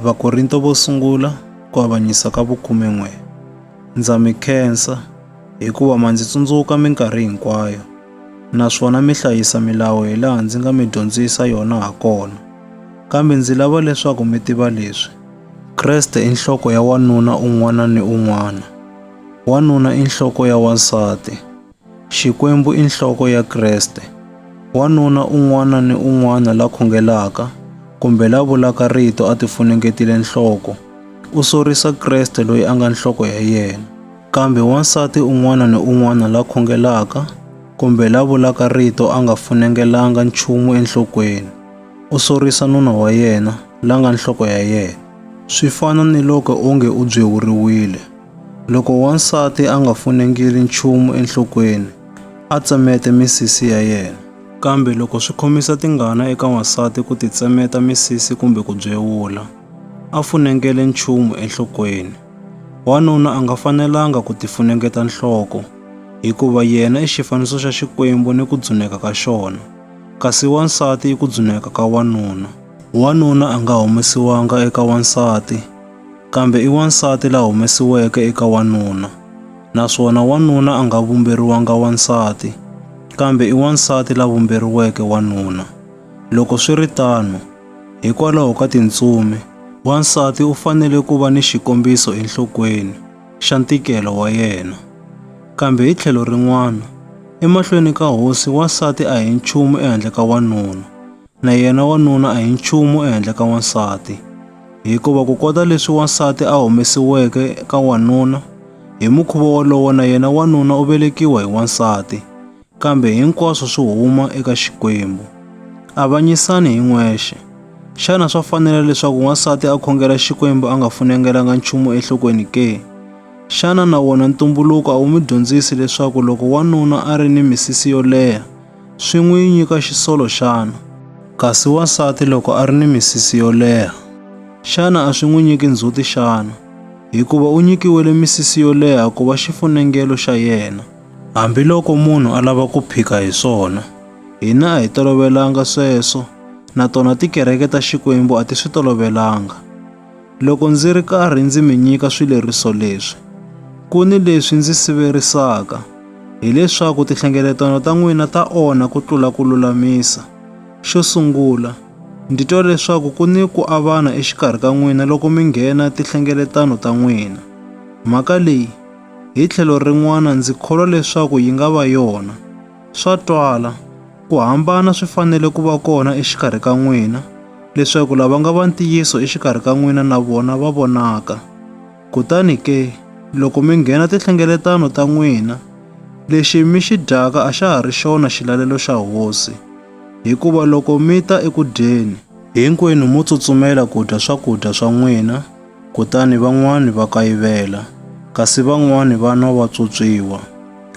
Vakorinto vo sungula ku avanyisa ka vukume-n'we. Ndza mi khensa, hikuva ma ndzi tsundzuka minkarhi hinkwayo, naswona mi hlayisa milawu hi laha ndzi nga mi dyondzisa yona ha kona. Kambe ndzi lava leswaku mi tiva leswi, Kreste i nhloko ya wanuna un'wana ni un'wana, wanuna i nhloko ya wansati. Xikwembu i nhloko ya Kreste. Wanuna un'wana ni un'wana la khongelaka kumbe la vulaka rito a tifunengetile nhloko, u sorisa Kreste loyi a nga nhloko ya yena. Kambe wansati un'wana ni un'wana la khongelaka kumbe la vulaka rito a nga funengelanga nchumu enhlokweni, u sorisa nuna wa yena, la nga nhloko ya yena. Swi fana ni loko onge u byeuriwile. Loko wansati a nga funengeli nchumu enhlokweni, a tsemete misisi ya yena. Kambe loko swi khomisa tingana eka wansati ku titsemeta misisi kumbe ku byewula, a funengele nchumu enhlokweni. Wanuna a nga fanelanga ku tifunengeta nhloko, hikuva yena i xifaniso xa Xikwembu ni ku dzuneka ka xona, kasi wansati i ku dzuneka ka wanuna. Wanuna a nga humesiwanga eka wansati. Kambe i wansati la humesiweke eka wanuna, naswona wanuna a nga vumberiwanga wansati, kambe i wansati la vumberiweke wanuna. Loko swi ri tano, hikwalaho ka tintsumi, wansati u fanele ku va ni xikombiso enhlokweni xa ntikelo wa yena. Kambe hi tlhelo rin'wana, emahlweni ka hosi wansati a hi nchumu ehandle ka wanuna. Na yena wanuna a hi nchumu ehenhla ka wansati, hikuva ku kota leswi wansati a humesiweke ka wanuna, hi mukhuva wolowo na yena wanuna u velekiwa hi wansati, kambe hinkwaswo swi huma eka Xikwembu. Avanyisani hi n'wexe. Xana swa fanela leswaku wansati a khongela Xikwembu a nga funengelanga nchumu enhlokweni ke? Xana na wona ntumbuluko a wu mi dyondzisi leswaku loko wanuna a ri ni misisi yo leha, swi n'wi nyika xisolo xana? Kasi wansati loko a ri ni misisi yo leha, xana a swi n'wi nyiki ndzhuti xana? Hikuva u nyikiwile misisi yo leha ku va xifunengelo xa yena. Hambiloko munhu a lava ku phika hi swona, hina a hi tolovelanga sweswo, na tona tikereke ta Xikwembu a ti swi tolovelanga. Loko ndzi ri karhi ndzi mi nyika swileriso leswi, ku ni leswi ndzi siverisaka, hileswaku tinhlengeletano ta n'wina ta onha ku tlula ku lulamisa. Xo sungula, ndi twa leswaku ku ni ku avana exikarhi ka n'wina loko mi nghena tinhlengeletano ta n'wina. Mhaka leyi, hi tlhelo rin'wana ndzi kholwa leswaku yi nga va yona. Swa twala, ku hambana swi fanele ku va kona exikarhi ka n'wina, leswaku lava nga va ntiyiso exikarhi ka n'wina na vona va vonaka. Kutani ke, loko mi nghena tinhlengeletano ta n'wina, lexi mi xi dyaka a xa ha ri xona xilalelo xa hosi, hikuva loko mi ta eku dyeni, hinkwenu mo tsutsumela ku dya swakudya swa n'wina, Kutani van'wana va kayivela, kasi van'wana va nwa va tswotswiwa.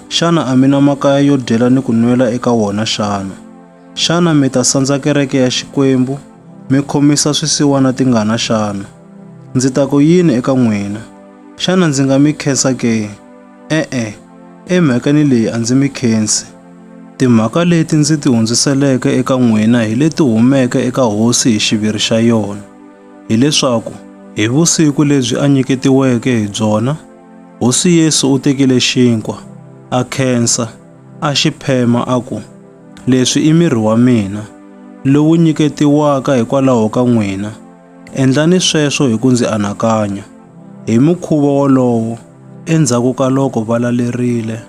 Xana a mi na makaya yo dyela ni ku nwela eka wona xana? Xana mi ta sandza kereke ya Xikwembu, mi khomisa swisiwana tingana xana? Ndzi ta ku yini eka n'wina? Xana ndzi nga mi khensa ke? E-e, emhakeni leyi a ndzi mi khensi. Timhaka leti ndzi ti hundziseleke eka n'wina hi leti humeke eka Hosi hi xiviri xa yona. hileswaku hi vusiku lebyi a nyiketiweke hi byona, Hosi Yesu u tekile xinkwa, a khensa, a xi phema a ku, Leswi i miri wa mina, lowu nyiketiwaka hikwalaho ka n'wina. Endlani sweswo hi ku ndzi anakanya. Hi mukhuva wolowo, endzhaku ka loko va lalerile,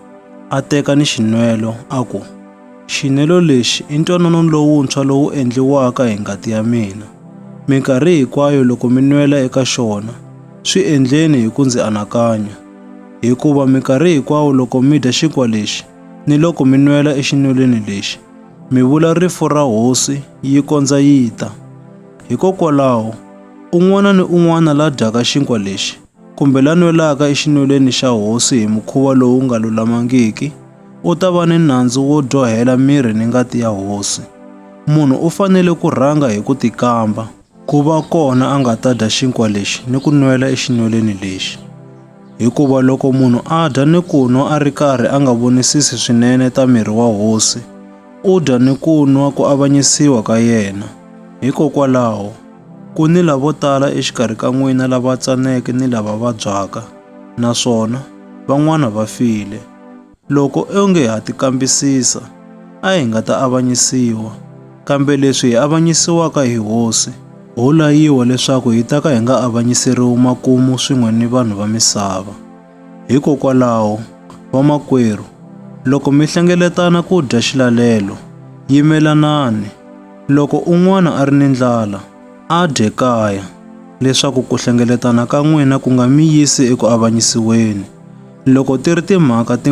a teka ni xinwelo a ku, Xinelo lexi i ntwanano lowuntshwa lowu endliwaka hi ngati ya mina. Minkarhi hinkwayo loko mi nwela eka xona, swi endleni hi ku ndzi anakanya. Hikuva minkarhi hinkwayo loko mi dya xinkwa lexi ni loko mi nwela exinwelweni lexi, mi vula rifu ra Hosi yi kondza yi ta. Hikokwalaho, un'wana ni un'wana la dyaka xinkwa lexi kumbe la nwelaka exinwelweni xa hosi hi mukhuva lowu nga lulamangiki, u ta va ni nandzu wo dyohela miri ni ngati ya hosi. Munhu u fanele ku rhanga hi ku tikamba. Ku va kona a nga ta dya xinkwa lexi ni ku nwela exinwelweni lexi. Hikuva loko munhu a dya ni ku nwa a ri karhi a nga vonisisi swinene ta miri wa hosi, u dya ni ku nwa ku avanyisiwa ka yena. Hikokwalaho, Ku ni lavo tala exikarhi ka n'wina lava tsaneke ni lava vabyaka, naswona van'wana va file. Loko o nge ha ti kambisisa, a hi nga ta avanyisiwa. Kambe leswi hi avanyisiwaka hi Hosi, ho layiwa leswaku hi ta ka hi nga avanyiseriwi makumu swin'we ni vanhu va misava. Hikokwalaho, vamakwerhu, loko mi hlengeletana ku dya xilalelo, yimelanani. Loko un'wana a ri ni ndlala, a dye kaya, leswaku ku hlengeletana ka n'wina ku nga mi yisi eku avanyisiweni. Loko ti ri timhaka ti.